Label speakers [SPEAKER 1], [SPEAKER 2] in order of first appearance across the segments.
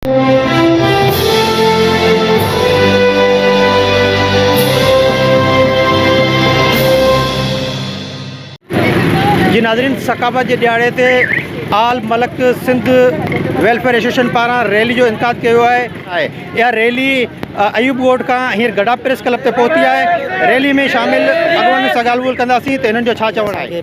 [SPEAKER 1] جي ناظرين ثقافت جي ڏهاڙي تي آل ملڪ سنڌ ويلفيئر ايسوسيئيشن پاران ريلي جو انعقاد ڪيو ويو آهي آهي اها ريلي ايوب ڳوٺ کان هينئر گڏا پريس ڪلب تي پهتي آهي ريلي ۾ شامل اڳواڻن سان ڳالهه ٻولهه ڪنداسين ته هنن جو ڇا چوڻ آهي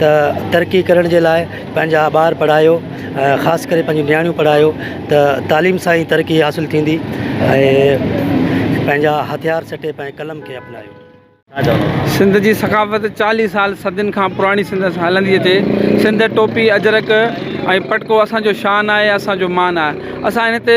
[SPEAKER 2] ته ترقي ڪرڻ جي لاء پنهنجا ٻار پڙهايو خاص ڪري پنهنجون نياڻيون پڙهايو ته تعليم سان ئي ترقي حاصل ٿيندي ۽ پنهنجا هٿيار سٽي پنهنجي قلم کي اپنايو.
[SPEAKER 3] سنڌ جي ثقافت چاليهه سال صدين کان پراڻي سندس هلندي اچي سنڌ ٽوپي اجرڪ ۽ پٽڪو اسان جو شان آهي اسان جو مان آهي اسان هن تي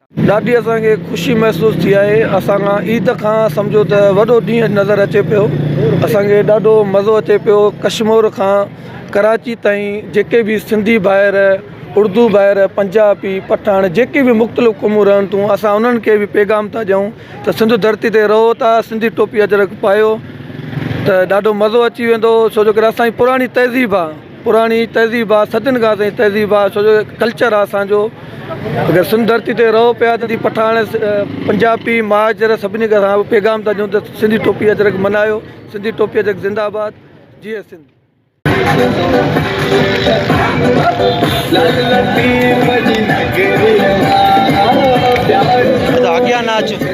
[SPEAKER 3] ڏاڍي اسان کي خوشي
[SPEAKER 4] محسوس ٿي آهي اسان کان عيد کان سمجهو ته وڏو ڏينهن نظر اچي پيو اسان کي ڏاڍو مزو اچي پيو ڪشمور کان ڪراچي تائين جيڪي بي سنڌي ڀائر اردو ڀائر پنجابي پٺاڻ جيڪي بي مختلف قومون رهن ٿيون اسان انهن کي بي پيغام ٿا ڏيون ته سنڌ ڌرتي تي رهو ٿا سنڌي ٽوپي اجرڪ پايو ته ڏاڍو مزو اچي ويندو ڇو جو ڪري اسان جي پراڻي تهذيب آهي پراڻي تهذيب آ صدين کان اسانجي تهذيب آ سڄو ڪلچر آ اسانجو اگر سنڌ ڌرتي تي رهو پيا ته جي پٺاڻ پنجابي مهاجر سڀني کي اسان پيغام ٿا ڏيون ته سنڌي ٽوپي اجرڪ ملهايو سنڌي ٽوپي اجرڪ زنده آباد جيئي سنڌ.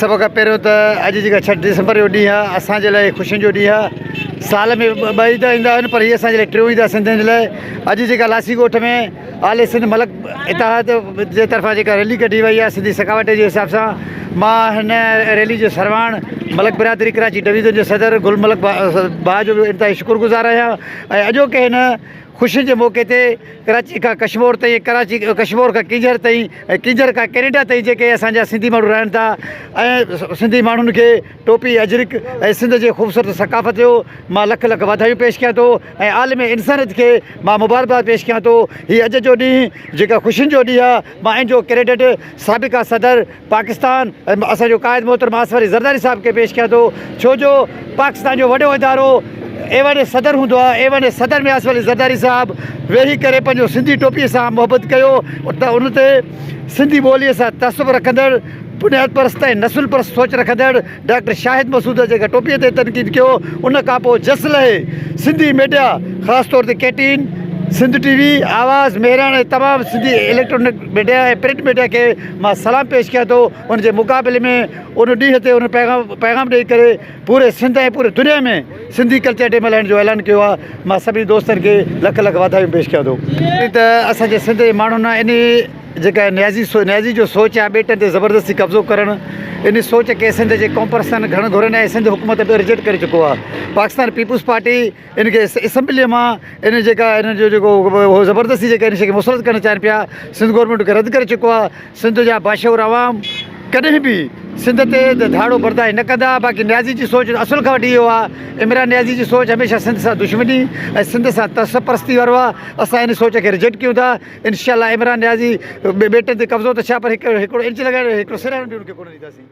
[SPEAKER 1] سڀ کان پهريون ته اڄ جيڪا ڇهه ڊسمبر جو ڏينهن آهي اسان جي لاء خوشين جو ڏينهن آهي سال ۾ ٻه عيد ايندا آهن پر هي اسان جي لاء ٽيون عيد آهي سنڌين جي لاء اڄ جيڪا لاسي ڳوٺ ۾ آل سنڌ ملڪ اتحاد جي طرفان جيڪا ريلي ڪڍي وئي آهي سنڌي ثقافت جي حساب سان مان هن ريلي جو سرواڻ ملڪ برادري ڪراچي ڊويزن جو صدر گل ملڪ باء جو به انتهائي شڪر گذار آهيان ۽ اڄوڪي هن خوشين جي موقعي تي ڪراچي کان ڪشمور تائين ڪراچي ڪشمور کان ڪينجهر تائين ڪينجهر کان ڪينيڊا تائين جيڪي اسان جا سنڌي ماڻهو رهن ٿا ۽ سنڌي ماڻهن کي ٽوپي اجرڪ ۽ سنڌ جي خوبصورت ثقافت جو مان لک لک واڌايون پيش ڪيان ٿو ۽ عالم انسانيت کي مان مبارڪباد پيش ڪيان ٿو هي اڄ جو ڏينهن جيڪا خوشين جو ڏينهن آهي مان ان جو ڪريڊٽ سابقه صدر پاڪستان ۽ اسان جو قائد محترم آصف علي زرداري صاحب کي پيش ڪيان ٿو ڇو جو پاڪستان جو وڏو ادارو ايوان صدر هوندو آهي ايوان صدر ۾ آصف علي زرداري صاحب ويهي ڪري پنهنجو سنڌي ٽوپي سان محبت ڪيو ته ان تي سنڌي ٻولي سان تعصب رکندڙ بنياد پرست ۽ نسل پرست سوچ رکندڙ ڊاڪٽر شاهد مسعود جيڪا ٽوپي تي تنقيد ڪيو ان کانپوء جس لهي سنڌي ميڊيا خاص طور تي ڪي ٽين سنڌ ٽي وي آواز مهراڻ ۽ تمام Sindhi electronic media ۽ print media کي مان سلام پيش ڪيان ٿو ان جي مقابلي ۾ ان ڏينهن تي ان پيغام پيغام ڏئي ڪري پوري سنڌ ۽ پوري دنيا ۾ سنڌي ڪلچر ڊي ملهائڻ جو اعلان ڪيو آهي مان سڀني دوستن کي لک لک واڌايون پيش ڪيان ٿو ته اسان جي سنڌ جي ماڻهن انهي جيڪا نيازي سو نيازي جو سوچ آهي ٻيٽن تي زبردستي قبضو ڪرڻ ان سوچ کي سنڌ جي قومپرستن گهڻ گهرن ۽ سنڌ حڪومت به رجيڪٽ ڪري چڪو آهي پاڪستان پيپلز پارٽي ان کي اسمبليء مان ان جيڪا ان جو جيڪو هو زبردستي جيڪا ان شي کي مسرت ڪرڻ چاهن پيا سنڌ گورنمينٽ ان کي رد ڪري چڪو آهي سنڌ جا باشعور عوام ڪڏهن به سنڌ تي ڌاڙو برداشت نه ڪندا باقي نيازي جي سوچ اصل کان وٺي اهو آهي عمران نيازي جي سوچ هميشه سنڌ سان دشمني ۽ سنڌ سان تصف پرستي وارو آهي اسان ان سوچ کي رجيڪٽ ڪيون ٿا انشاء الله عمران نيازي ٻيٽن تي قبضو ته ڇا پر هڪڙو انچ لڳائي ڏيو هڪڙو سرهڻ به ان کي ڪونه ڏينداسين.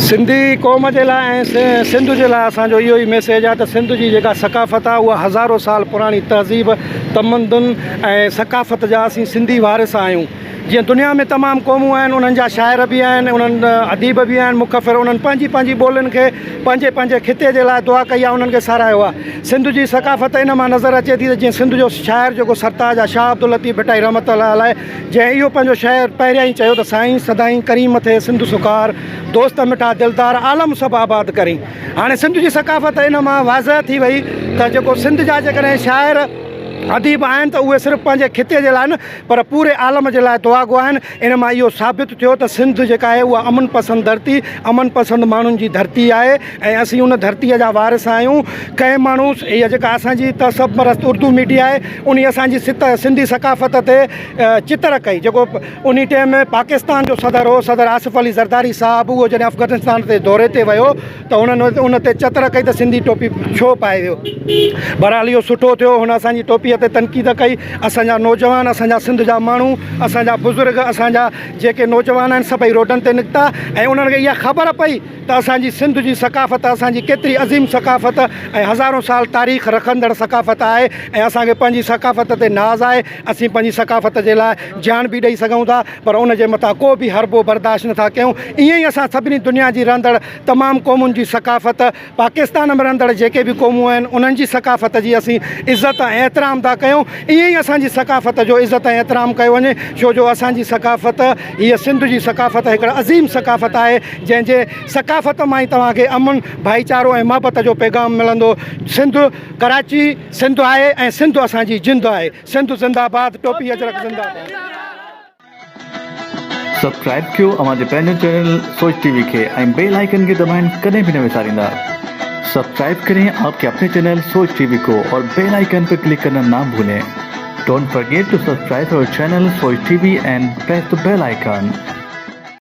[SPEAKER 1] سنڌي قوم
[SPEAKER 4] جي لاء ۽ سنڌ جي لاء اسان جو اهو ئي ميسيج آهي ته سنڌ جي جيڪا ثقافت آهي اها هزارو سال پراڻي تهذيب، تمدن ۽ ثقافت جا اسين سنڌي وارث آهيون. جيئن دنيا ۾ تمام قومون آهن انهن جا شاعر به آهن انهن اديب به آهن مخفر انهن پنهنجي پنهنجي ٻولين کي. پنهنجي پنهنجي خطي جي لاء دعا ڪئي آهي انهن کي ساراهيو آهي سنڌ جي ثقافت ان مان نظر اچي ٿي ته جيئن سنڌ جو شاعر جيڪو سرتاج آهي شاهه عبداللطيف ڀٽائي رحمة الله عليه جنهن اهو پنهنجو شعر پهريان ئي چيو ته سائين سدائين ڪريم ٿئي سنڌ سکار دوست مٺا دلدار عالم سڀ آباد ڪرين هاڻي سنڌ جي ثقافت ان مان واضح ٿي وئي ته جيڪو سنڌ جا جيڪڏهن شاعر اديب آهن ته اهي صرف پنهنجي خطي جي لاء نه پر پوري عالم جي لاء دعا گو آهن، ان مان اهو ثابت ٿيو ته سنڌ جيڪا آهي اها امن پسند ڌرتي، امن پسند ماڻهن جي ڌرتي آهي ۽ اسين ان ڌرتي جا وارث آهيون، ڪنهن ماڻهو اها جيڪا اسان جي تعصب پرست اردو ميڊيا آهي انهي اسان جي سنڌي ثقافت تي چتر ڪئي جيڪو انهي ٽيم پاڪستان جو صدر هو صدر آصف علي زرداري صاحب اهو جڏهن افغانستان تي دوري تي ويو ته هنن ان تي چتر ڪئي ته سنڌي ٽوپي ڇو پائي ويو. بهرحال اهو سٺو ٿيو هن اسان جي ٽوپيء تي تنقيد ڪئي. اسان جا نوجوان، اسان جا سنڌ جا ماڻهو، اسان جا بزرگ، اسان جا جيڪي نوجوان آهن سڀئي روڊن تي نڪتا ۽ انهن کي اها خبر پئي ته اسان جي سنڌ جي ثقافت اسان جي ڪيتري عظيم ثقافت ۽ هزارون سال تاريخ رکندڙ ثقافت آهي ۽ اسان کي پنهنجي ثقافت تي ناز آهي. اسين پنهنجي ثقافت جي لاء جان به ڏئي سگهون ٿا پر ان جي مٿان ڪو به حربو برداشت نٿا ڪيون. ائين ئي اسان سڀني دنيا جي رهندڙ تمام قومن جي ثقافت پاڪستان ۾ رھندڙ جيڪي به قومون آھن انھن جي ثقافت جي اسين عزت ۽ احترام ٿا ڪيون ائين ئي اسان جي ثقافت جو عزت ۽ احترام ڪيو وڃي ڇو جو اسان جي ثقافت ھيء سنڌ جي ثقافت ھڪڙ عظيم ثقافت آھي جنھن جي ثقافت مان ئي توھان کي امن ڀائيچارو ۽ محبت جو پيغام ملندو سنڌ ڪراچي سنڌ آھي ۽ سنڌ اسان جي جند آھي سنڌ زنده باد ٽوپي اجرڪ زنده باد.
[SPEAKER 5] سبسڪرائب ڪيو اوهان جي پنهنجو چينل سوچ ٽي وي کي ۽ بيل آئيڪن کي دٻائڻ ڪڏهن به نه وساريندا سبسڪرائب ڪرين آپ ڪي اپني چينل سوچ ٽي وي ڪو اور بيل آئيڪن پي ڪلڪ ڪرنا نا ڀولين ڊونٽ فرگيٽ ٽو سبسڪرائب اور channel Soch T V and press the bell icon.